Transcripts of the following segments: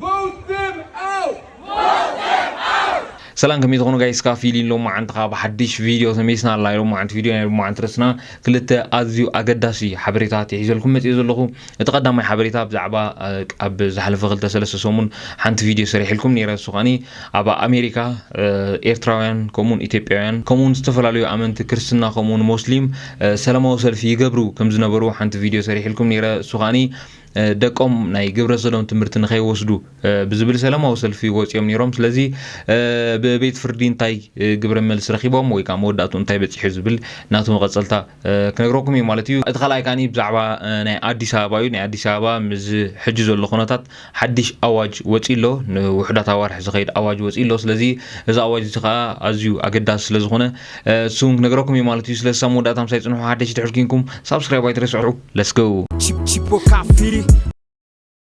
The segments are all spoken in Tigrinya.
Vote them out! ሰላም ከመይ ትኾኑ ጋይስ ካብ ፊሊን ሎማዓንቲ ከዓ ብሓድሽ ቪድዮ ተመሊስና ኣላ ሎማዓንቲ ቪድዮ ናይ ሎማዓንቲ ርእስና ክልተ ኣዝዩ ኣገዳሲ ሓበሬታት የሒዘልኩም መፅኦ ዘለኹ እቲ ቀዳማይ ሓበሬታ ብዛዕባ ኣብ ዝሓለፈ ክልተ ሰለስተ ሰሙን ሓንቲ ቪድዮ ሰሪሕልኩም ነይረ እሱ ከዓኒ ኣብ ኣሜሪካ ኤርትራውያን ከምኡውን ኢትዮጵያውያን ከምኡውን ዝተፈላለዩ ኣመንቲ ክርስትና ከምኡውን ሞስሊም ሰላማዊ ሰልፊ ይገብሩ ከም ዝነበሩ ሓንቲ ቪድዮ ሰሪሕልኩም ነይረ እሱ ከዓኒ ደቆም ናይ ግብረ ሰዶም ትምህርቲ ንኸይወስዱ ብዝብል ሰላማዊ ሰልፊ ወፂኦም ነይሮም። ስለዚ ብቤት ፍርዲ እንታይ ግብረ መልሲ ረኪቦም ወይ ከዓ መወዳእቱ እንታይ በፂሑ ዝብል ናቱ መቐፀልታ ክነግረኩም እዩ ማለት እዩ። እቲ ካልኣይ ከዓኒ ብዛዕባ ናይ ኣዲስ ኣበባ እዩ። ናይ ኣዲስ ኣበባ ምስዚ ሕጂ ዘሎ ኩነታት ሓዲሽ ኣዋጅ ወፂኡ ኣሎ። ንውሑዳት ኣዋርሕ ዝኸይድ ኣዋጅ ወፂኡ ኣሎ። ስለዚ እዚ ኣዋጅ እዚ ከዓ ኣዝዩ ኣገዳሲ ስለዝኾነ እሱ እውን ክነግረኩም እዩ ማለት እዩ። ስለዚ ሳብ መወዳእታ ምሳይ ፅንሑ። ሓደሽቲ ድሕር ኩንኩም ሳብስክራይብ ኣይትረስዑ። Let's go!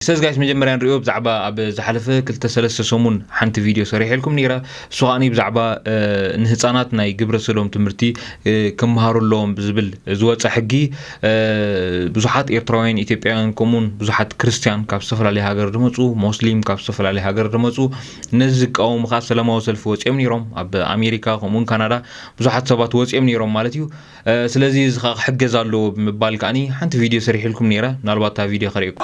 ሰዝ ጋይስ መጀመርያ ንሪኦ ብዛዕባ ኣብ ዝሓለፈ ክልተ ሰለስተ ሰሙን ሓንቲ ቪድዮ ሰሪሐልኩም ነይረ እሱ ከዓኒ ብዛዕባ ንህፃናት ናይ ግብረ ሰዶም ትምህርቲ ክምሃሩ ኣለዎም ብዝብል ዝወፀ ሕጊ ብዙሓት ኤርትራውያን ኢትዮጵያውያን ከምኡውን ብዙሓት ክርስትያን ካብ ዝተፈላለዩ ሃገር ዝመፁ ሞስሊም ካብ ዝተፈላለዩ ሃገር ዝመፁ ነዚ ዝቃወሙ ከዓ ሰላማዊ ሰልፊ ወፂኦም ነይሮም ኣብ ኣሜሪካ ከምኡውን ካናዳ ብዙሓት ሰባት ወፂኦም ነይሮም ማለት እዩ ስለዚ እዚ ከኣ ክሕገዝ ኣለዎ ብምባል ከኣ ሓንቲ ቪድዮ ሰሪሕልኩም ነይረ ምናልባት እታ ቪድዮ ከርእየኩም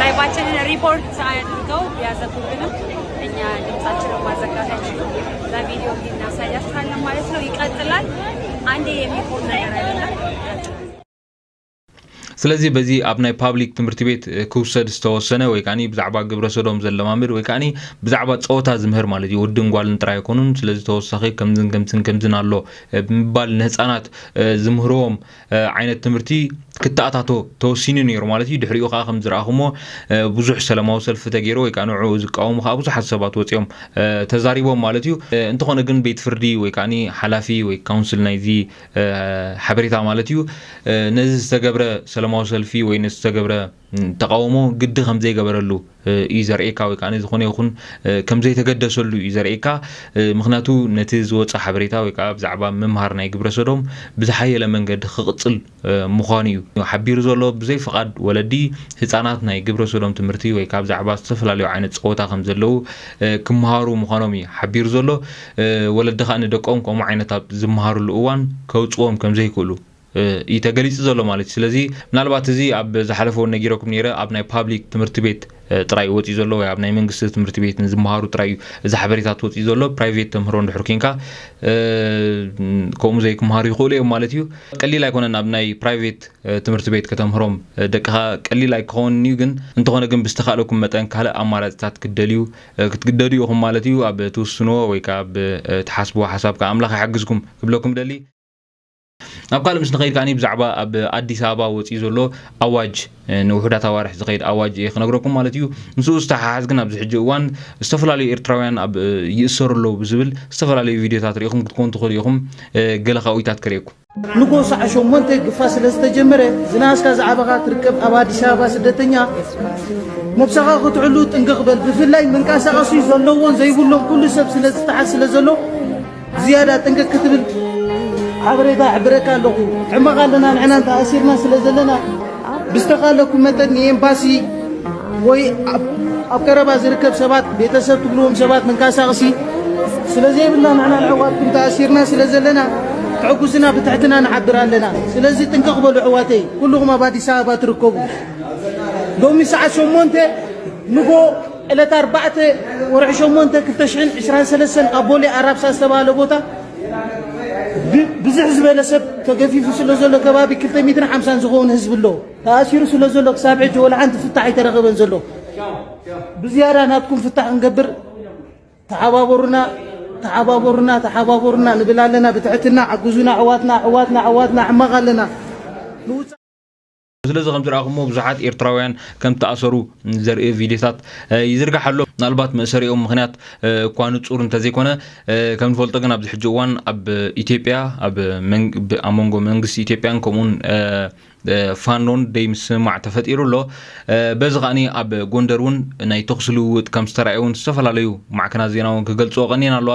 ላይቫችንን ሪፖርት አድርገው ቢያዘጉብንም እኛ ድምጻችንን ማዘጋት አይችሉም። በቪዲዮ እንዲህ እናሳያችኋለን ማለት ነው። ይቀጥላል። አንዴ የሚቆም ነገር አይደለም። ስለዚ በዚ ኣብ ናይ ፓብሊክ ትምህርቲ ቤት እ፣ ክውሰድ ዝተወሰነ ወይ ከዓኒ ብዛዕባ ግብረ ሰዶም ዘለማምድ ወይ ከዓኒ ብዛዕባ ጸወታ ዝምህር ማለት እዩ ወድን ጓልን ጥራይ ኣይኮኑን ስለዚ ተወሳኺ ከምዝን ከምዝን ከምዝን ኣሎ እ፣ ብምባል ንህፃናት እ፣ ዝምህርዎም ዓይነት ትምህርቲ ክተኣታቶ ተወሲኑ ነይሩ ማለት እዩ ድሕሪኡ ከዓ ከም ዝረኣኹሞ ብዙሕ ሰላማዊ ሰልፊ ተገይሩ ወይ ከዓ ንዕኡ ዝቃወሙ ከዓ ብዙሓት ሰባት ወፂኦም ተዛሪቦም ማለት እዩ እንተኾነ ግን ቤት ፍርዲ ወይ ከዓ ሓላፊ ወይ ካውንስል ናይዚ ሓበሬታ ማለት እዩ ነዚ ዝተገብረ ሰላማዊ ሰልፊ ወይ ዝተገብረ ተቓውሞ ግዲ ከም ዘይገበረሉ እዩ ዘርእየካ ወይ ከዓ ዝኾነ ይኹን ከም ዘይተገደሰሉ እዩ ዘርእየካ ምክንያቱ ነቲ ዝወፀ ሓበሬታ ወይ ከዓ ብዛዕባ ምምሃር ናይ ግብረ ሰዶም ብዝሓየለ መንገዲ ክቕፅል ምዃኑ እዩ ሓቢሩ ዘሎ ብዘይ ፍቓድ ወለዲ ህፃናት ናይ ግብረ ሰዶም ትምህርቲ ወይ ከዓ ብዛዕባ ዝተፈላለዩ ዓይነት ፀወታ ከም ዘለው ክምሃሩ ምዃኖም እዩ ሓቢሩ ዘሎ ወለዲ ከዓ ንደቆም ከምኡ ዓይነት ኣብ ዝምሃርሉ እዋን ከውፅዎም ከም ዘይክእሉ እዩ ተገሊጹ ዘሎ ማለት እዩ ስለዚ ምናልባት እዚ ኣብ ዝሓለፈ እውን ነጊረኩም ነይረ ኣብ ናይ ፓብሊክ ትምህርቲ ቤት ጥራይ እዩ ወፂኡ ዘሎ ወይ ኣብ ናይ መንግስቲ ትምህርቲ ቤት ንዝመሃሩ ጥራይ እዩ እዚ ሓበሬታት ወፂኡ ዘሎ ፕራይቬት ተምህሮ እንድሕር ኮንካ ከምኡ ዘይክምሃሩ ይኽእሉ እዮም ማለት እዩ ቀሊል ኣይኮነን ኣብ ናይ ፕራይቬት ትምህርቲ ቤት ከተምህሮም ደቅኻ ቀሊል ኣይክኸውን እዩ ግን እንተኾነ ግን ብዝተኻእለኩም መጠን ካልእ ኣማራፅታት ክትደልዩ ክትግደዱ ኢኹም ማለት እዩ ኣብ ትውስንዎ ወይ ከዓ ኣብ ትሓስብዎ ሓሳብ ከዓ ኣምላኽ ይሓግዝኩም ክብለኩም ደሊ ናብ ካልእ ምስ ንኸይድ ከዓኒ ብዛዕባ ኣብ ኣዲስ ኣበባ ወፂኡ ዘሎ ኣዋጅ ንውሑዳት ኣዋርሕ ዝኸይድ ኣዋጅ እየ ክነግረኩም ማለት እዩ ምስኡ ዝተሓሓዝ ግን ኣብዚ ሕጂ እዋን ዝተፈላለዩ ኤርትራውያን ኣብ ይእሰሩ ኣለዉ ብዝብል ዝተፈላለዩ ቪድዮታት ርኢኹም ክትኮኑ ትኽእሉ ኢኹም ገለ ካብኡታት ክርእየኩም ንጎ ሳዕ ሸሞንተ ግፋ ስለ ዝተጀመረ ዝናኣስካ ዝዓበኻ ትርከብ ኣብ ኣዲስ ኣበባ ስደተኛ ነብሰኻ ክትዕሉ ጥንቅቕ በል ብፍላይ መንቀሳቐሲ ዘለዎን ዘይብሎም ኩሉ ሰብ ስለ ዝተሓዝ ስለ ዘሎ ዝያዳ ጥንቅቅ ክትብል ሓበሬታ ይሕብረካ ኣለኹ። ሕመቕ ኣለና ንሕና ተኣሲርና ስለ ዘለና ብዝተኻለኩም መጠን ንኤምባሲ ወይ ኣብ ቀረባ ዝርከብ ሰባት ቤተሰብ ትብልዎም ሰባት መንቀሳቕሲ ስለ ዘይብልና ንሕና ንሕዋትኩም ተኣሲርና ስለ ዘለና ትሕጉስና ብትሕትና ንሓብር ኣለና። ስለዚ ጥንቅቕ በሉ ኣሕዋተይ፣ ኩልኹም ኣብ ኣዲስ ኣበባ ትርከቡ ሎሚ ሰዓት ሸሞንተ ንጎ ዕለት ኣርባዕተ ወርሒ ሸሞንተ ክልተ ሽሕን ዕስራን ሰለስተን ኣብ ቦሌ ኣራብሳ ዝተባህለ ቦታ ብዝሕ ዝበለ ሰብ ተገፊፉ ስለ ዘሎ ከባቢ ክልተ ሚትን ሓምሳን ዝኸውን ህዝቢ ኣሎ ተኣሲሩ ስለ ዘሎ ክሳብ ሕጂ ወላ ሓንቲ ፍታሕ ኣይተረኸበን ዘሎ ብዝያዳ ናትኩም ፍታሕ ክንገብር ተሓባበሩና ተሓባበሩና ተሓባበሩና ንብል ኣለና ብትሕትና ሓግዙና ኣሕዋትና ኣሕዋትና ኣሕዋትና ሕማቕ ኣለና ስለዚ ከም ዝረኣኹሞ ብዙሓት ኤርትራውያን ከም ዝተኣሰሩ ዘርኢ ቪድዮታት ይዝርጋሕ ኣሎ ምናልባት መእሰሪኦም ምክንያት እኳ ንጹር እንተዘይኮነ ከም ንፈልጦ ግን ኣብዚ ሕጂ እዋን ኣብ ኢትዮጵያ ኣብ መንጎ መንግስቲ ኢትዮጵያን ከምኡውን ፋኖን ደይ ምስምማዕ ተፈጢሩ ኣሎ በዚ ከዓኒ ኣብ ጎንደር እውን ናይ ተኽሲ ልውውጥ ከም ዝተረኣየ እውን ዝተፈላለዩ ማዕከናት ዜና እውን ክገልፅዎ ቀኒን ኣለዋ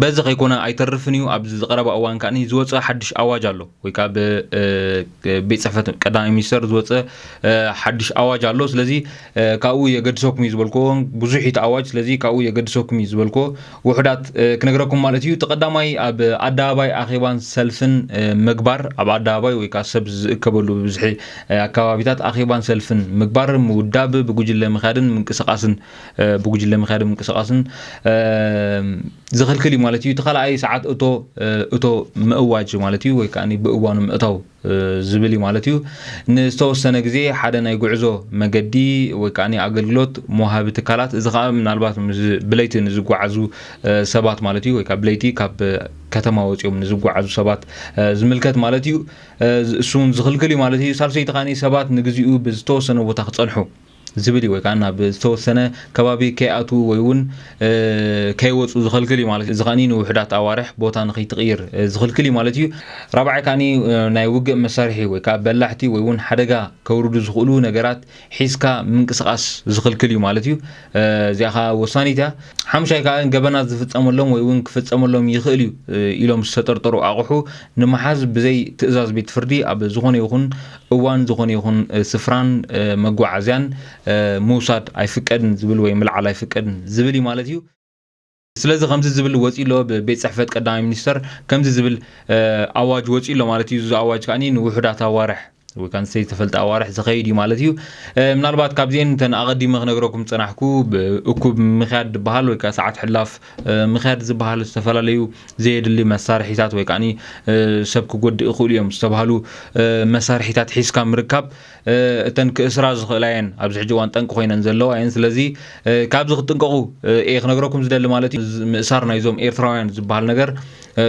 በዚ ከይኮነ ኣይተርፍን እዩ ኣብዚ ዝቀረባ እዋን ከኣ ዝወፀ ሓድሽ ኣዋጅ ኣሎ ወይ ከዓ ቤት ፅሕፈት ቀዳማይ ሚኒስተር ዝወፀ ሓድሽ ኣዋጅ ኣሎ ስለዚ ካብኡ የገድሰኩም እዩ ዝበልክዎ ብዙሕ እቲ ኣዋጅ ስለዚ ካብኡ የገድሰኩም እዩ ዝበልክዎ ውሑዳት ክነግረኩም ማለት እዩ እቲ ቀዳማይ ኣብ ኣደባባይ ኣኼባን ሰልፍን ምግባር ኣብ ኣደባባይ ወይ ከዓ ሰብ ዝእከበሉ ብብዝሒ ኣከባቢታት ኣኼባን ሰልፍን ምግባር ምውዳብ ብጉጅለ ምክያድን ምንቅስቃስን ብጉጅለ ምክያድን ምንቅስቃስን ዝኽልክል እዩ ማለት እዩ እቲ ካልኣይ ሰዓት እቶ እቶ ምእዋጅ ማለት እዩ ወይ ከዓ ብእዋኑ ምእታው ዝብል እዩ ማለት እዩ። ንዝተወሰነ ግዜ ሓደ ናይ ጉዕዞ መገዲ ወይ ከዓ ኣገልግሎት መውሃቢ ትካላት እዚ ከዓ ምናልባት ብለይቲ ንዝጓዓዙ ሰባት ማለት እዩ ወይ ከዓ ብለይቲ ካብ ከተማ ወፂኦም ንዝጓዓዙ ሰባት ዝምልከት ማለት እዩ። እሱ እውን ዝኽልክል እዩ ማለት እዩ። ሳልሰይቲ ከዓ ሰባት ንግዚኡ ብዝተወሰነ ቦታ ክፀንሑ ዝብል እዩ ወይ ከዓ ናብ ዝተወሰነ ከባቢ ከይኣትዉ ወይ እውን ከይወፁ ዝኸልክል እዩ ማለት እዩ። እዚ ከዓኒ ንውሑዳት ኣዋርሕ ቦታ ንክይትቕይር ዝኽልክል እዩ ማለት እዩ። ራብዓይ ከዓኒ ናይ ውግእ መሳርሒ ወይ ከዓ በላሕቲ ወይ እውን ሓደጋ ከውርዱ ዝኽእሉ ነገራት ሒዝካ ምንቅስቓስ ዝኽልክል እዩ ማለት እዩ። እዚኣ ከዓ ወሳኒት እያ። ሓሙሻይ ከዓ ገበናት ዝፍፀመሎም ወይ እውን ክፍፀመሎም ይኽእል እዩ ኢሎም ዝተጠርጠሩ ኣቑሑ ንምሓዝ ብዘይ ትእዛዝ ቤት ፍርዲ ኣብ ዝኾነ ይኹን እዋን ዝኾነ ይኹን ስፍራን መጓዓዝያን ምውሳድ ኣይፍቀድን ዝብል ወይ ምልዓል ኣይፍቀድን ዝብል እዩ ማለት እዩ። ስለዚ ከምዚ ዝብል ወጺኡ ኣሎ ብቤት ጽሕፈት ቀዳማይ ሚኒስተር ከምዚ ዝብል ኣዋጅ ወጺኡ ኣሎ ማለት እዩ። እዚ ኣዋጅ ከኣ ንውሑዳት ኣዋርሕ ወይ ከኣ ንዘይተፈልጠ ኣዋርሕ ዝኸይድ እዩ ማለት እዩ። ምናልባት ካብዚኤን እተን ኣቐዲመ ክነግረኩም ዝጸናሕኩ እኩብ ምኽያድ ዝበሃል ወይ ከኣ ሰዓት ሕላፍ ምክያድ ዝበሃል ዝተፈላለዩ ዘየድሊ መሳርሒታት ወይ ከዓ ሰብ ክጎድእ ይኽእሉ እዮም ዝተባሃሉ መሳርሒታት ሒዝካ ምርካብ እተን ክእስራ ዝኽእላ እየን ኣብዚ ሕጂ እዋን ጠንቂ ኮይነን ዘለዋ እየን ስለዚ ካብዚ ክትጥንቀቑ እየ ክነግረኩም ዝደሊ ማለት እዩ ምእሳር ናይዞም ኤርትራውያን ዝበሃል ነገር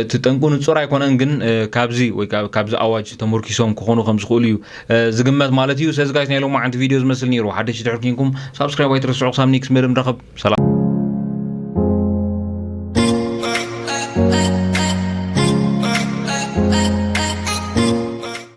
እቲ ጠንቁ ንጹር ኣይኮነን ግን ካብዚ ወይ ካብዚ ኣዋጅ ተመርኪሶም ክኾኑ ከም ዝኽእሉ እዩ ዝግመት ማለት እዩ ስለዚ ጋይስ ናይ ሎማዓንቲ ቪድዮ ዝመስል ነይሩ ሓደሽቲ ድሕር ኮንኩም ሳብስክራይብ ኣይትረስዑ ክሳብ ኔክስት መደብ ንራኸብ ሰላም።